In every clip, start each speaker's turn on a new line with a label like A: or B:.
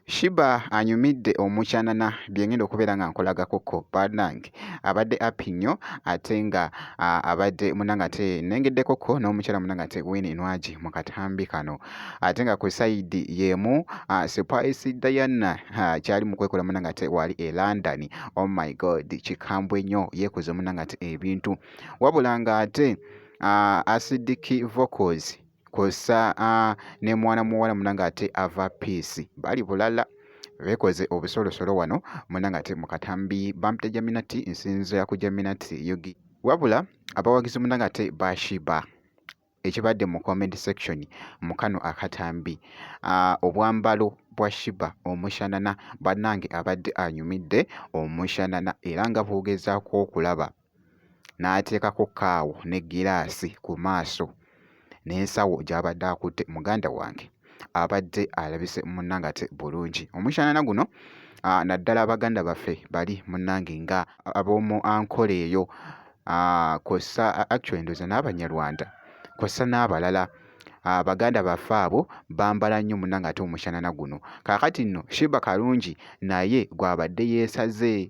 A: Shiba anyumidde omukyanana bye ngenda okubeera nga nkolagakoko bannange abadde api nnyo ate nga abadde munange ate nengeddekoko n'omukyala munange ate Winne Nwagi mu katambi kano ate nga ku sayidi y'emu Spice Diana kyali mu kwekola munange ate wali e London oh my god kikambwe nnyo yeekoze munange ate ebintu wabula ng'ate uh, acidic vocals kwossa uh, ne mwana muwala muna ng'ate ava peace bali bulala bekoze obusolosolo wano muna ng'ate mu katambi bampita jaminati nsinzo ya ku jaminati yogi wabula abawagizi muna ng'ate bashiba ekibadde mu comment section mu kano akatambi uh, obwambalo bwa shiba omushanana bannange abadde anyumidde omushanana era nga bwogezaako okulaba n'ateekako kkaawo n'eggiraasi ku maaso n'ensawo gy'abadde akutte muganda wange abadde alabise munnangate bulungi omushanana guno naddala baganda baffe bali munnange nga ab'omu ankola eyo kw'ossa actually ndoza n'abanyarwanda kw'ossa n'abalala Ah, baganda baffe abo bambala nnyo munange ate omushanana guno kakati nno shiba kalungi naye gwabadde yeesaze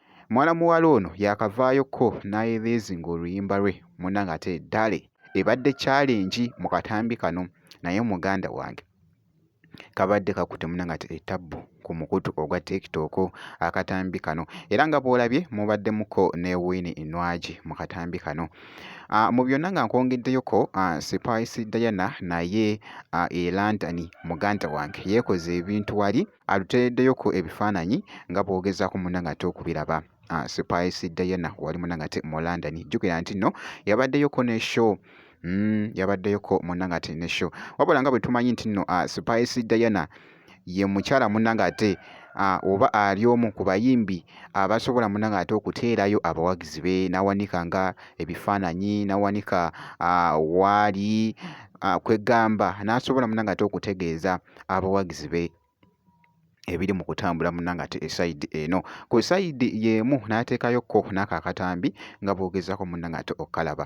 A: Muwala muwala ono yakavaayo kko n'aeleezinga oluyimba lwe muna ng'ate Dale ebadde challenge mu katambi kano naye muganda wange kabadde kakutte muna ng'ate etabbu ku mukutu ogwa tiktok akatambi kano era nga bw'olabye mubaddemuko ne wini inwagi mu katambi kano ah, mu byonna nga nkwongeddeyoko ah, spice diana naye ah, elandani muganda wange yeekoze ebintu wali alutereddeyo ku ebifaananyi nga bw'ogezaako munna ng'ate okubiraba ah, Spice Diana wali munna ng'ate mu London jjukira nti nno yabaddeyoko ne show mm, yabaddeyoko munna ng'ate ne show wabula nga bwe tumanyi nti nno ah, Spice Diana ye mukyala munna ng'ate ah, oba ali omu ku bayimbi abasobola munna ng'ate okuteerayo abawagizi be n'awanika nga ebifaananyi n'awanika waali kwegamba n'asobola munna ng'ate okutegeeza abawagizi be ebiri mu kutambula munna ng'ate esayidi eno ku sayidi y'emu n'ateekayo kko n'ako akatambi nga bw'ogezaako munna ng'ate okukalaba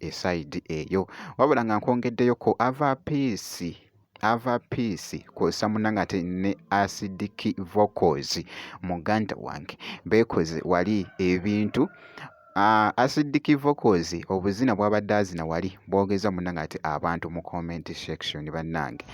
A: esayidi eyo wabula nga nkwongeddeyo ko ava piisi ava piisi kwosa munange ate ne acidic vocals muganda wange beekoze wali ebintu Ah, acidic vocals obuzina bwabadde azina wali bwogeza munange ati abantu mu comment section banange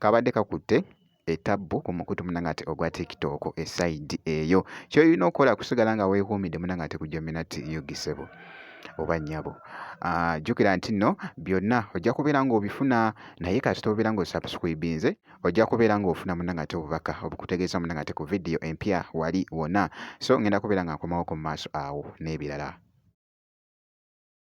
A: kabadde kakutte etabbu ku mukutu munanga ati ogwa tiktok esayidi eyo kyoyina okukola kusigala nga wekuumidde munanga ati kujomina ti yogisebo oba nyabo ah, jukira nti no byonna ojja kubeera ngaobifuna naye kasita obeera nga osubscribinze ojja kubeera ngaofuna munanga ati obubaka obukutegeeza munanga ati ku vidiyo empya wali wona so ngenda kubeera nga nkomawo ku maaso awo n'ebirala